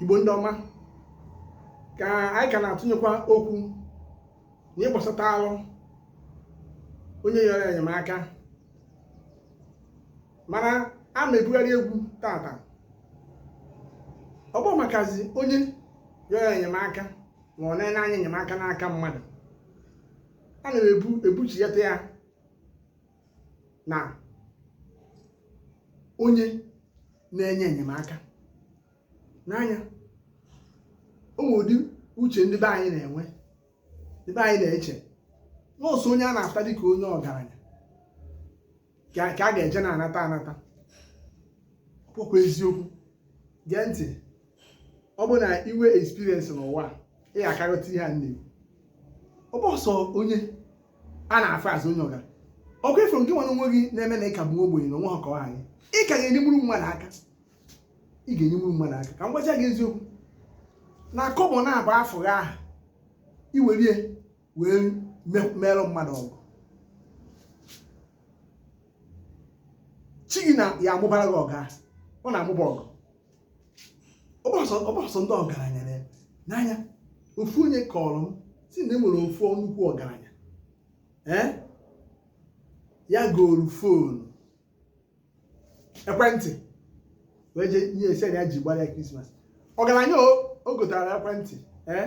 igbo ndị ọma ka anyị ka na-atụnyekwa okwu n'ihe gbasatalụ onye yọrọ enyemaka mana a ma ebugharị egwu tata ọ bụ makazi onye yọrọ enyemaka ma ọ na-ene anya enyemaka n'aka mmadụ a na-ebu ebuchighata ya na onye na-enye enyemaka n'anya o nwere ụdị uche ndị be anyị na-enwe ndị be anyị na-eche na ọ sọ onye a na-afụta dịka onye ọgaranya ka a ga-eje na-anata anata ọ bụkwa eziokwu gee ntị ọ bụrụ na i nwee experience n'ụwa ị ga-aka aghọta ihe a na-ekwu ọ bụhọ sọ onye a na-afụ as onye ọga ọkwa ị fụrụ nke nwere onwe gị na-eme na ị ka bụ ogbenye na o nwehọ ka ọ ha anyị ị ka ga-enyenwuru mmadụ aka ị ga-enyenwuru mmadụ aka ka m gwacha gị eziokwu na kọbọ naabọ afụ gị aha i werie wee meerụ mmadụ ọgọ chi gị na ya amụbara gị ọgọ ahụ ọ na-amụba ọgọ ọgbasọ ndị ọgaranya n'anya ofu onye kọọrọ m sị na e nwere ofu nnukwu ọgaranya ee ya goro fonu ekwentị wee jee nye ya sị ya ji gbara ya krismas ọgaranya o gotara ekwentị ee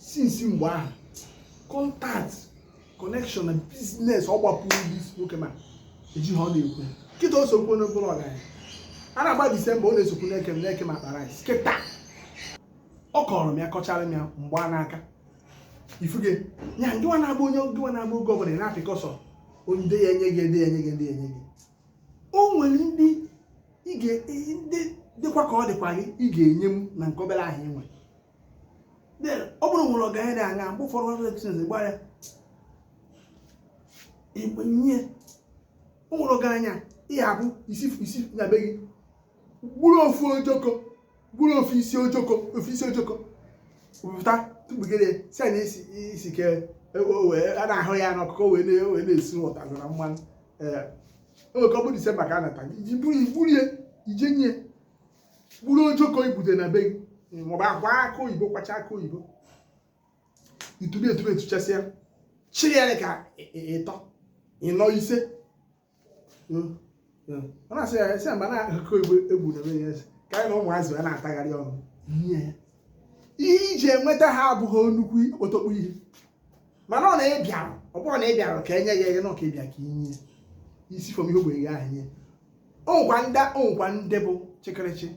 since mgbe ahụ contact connection na business ọ gbapụrụ this nwoke ma eji ha ọ na-ekwu kịta o sokwu onye bụrụ ọgaranya a na-agba disemba ọ na-esokwu na-eke na-eke akpa rice kịta ọ kọọrọ m ya kọchara m ya m gbaa n'aka ị fụge ya ngịwa na-abụ onye ngịwa na-abụ oge ọbụla ị na-apịkọ sọ ndị ya enye gị ndị ya enye gị ndị ya enye gị o nwere ndị ị ga- ndị dịkwa ka ọ dịkwarị ị ga-enye m na nke obere ahụ ị nwere ọ bụrụ wine ọgaranya na-aṅụ mgbe ụfọdụ ọrụ etinye gba ya igbe nye o nwere ọgaranya ihe abụ i si i si na be gị gburu ofu ojoko gburu ofu isi ojoko ofu isi ojoko pụta tụgbugide sị na isi isi ke a na-ahụ ya n'ọkụ wee na-esuta na mmanụ ee o nwere ka ọ bụ disemba ka a nata i ji buru ya i je nye buru ojoko i gbute na be gị maọbụ a kwa akụ oyibo kwacha akụ oyibo i tube etube etuchasịa chịrị ya ka ịtọ ịnọ ise hmm, hmm. ọ na-asị ya esi mba na akụ oyibo egwu na be ya ka ya na ụmụazị ya na-atagharị ọnụ ihe ya ihe e ji enweta ha abụghị nnukwu okpotokpo ihe mana ọ na-ebịarụ ọ bụrụ na ị bịara ka e nye ya ihe na ọ ka ị bịa ka i nye i si from ihe ogbenye gị ahụ nye o nwekwa ndị o nwekwa ndị bụ chịkịrịchị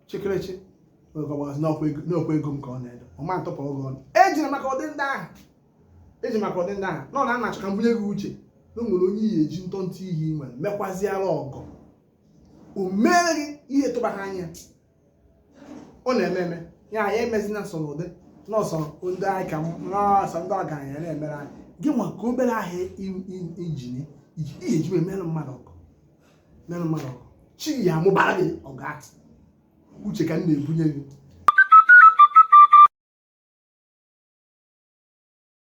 chịkịrịchị n'okwu ego m ka ọ na-edo ọma ntụpụ oge ọnụ eji maka ụdị ndị ahụ eji maka ụdị ndị ahụ nọ na ana achọ ka m bunye gị uche na o nwere onye ị ya-eji ntọntọ ihe i nwere mekwaziara ọgọ o meere gị ihe tụba ha anya ọ na-eme eme ya anyị emezina nsọ n'ụdị nọọsọ ndị anyị ka nọọsọ ndị ọgaranya na-emere anyị gị nwa ka obere ahụ i ji n'ihe eji emere mmadụ ọgọ mere mmadụ ọgọ chi ya amụbara gị ọga uche ka m na-ebunye gị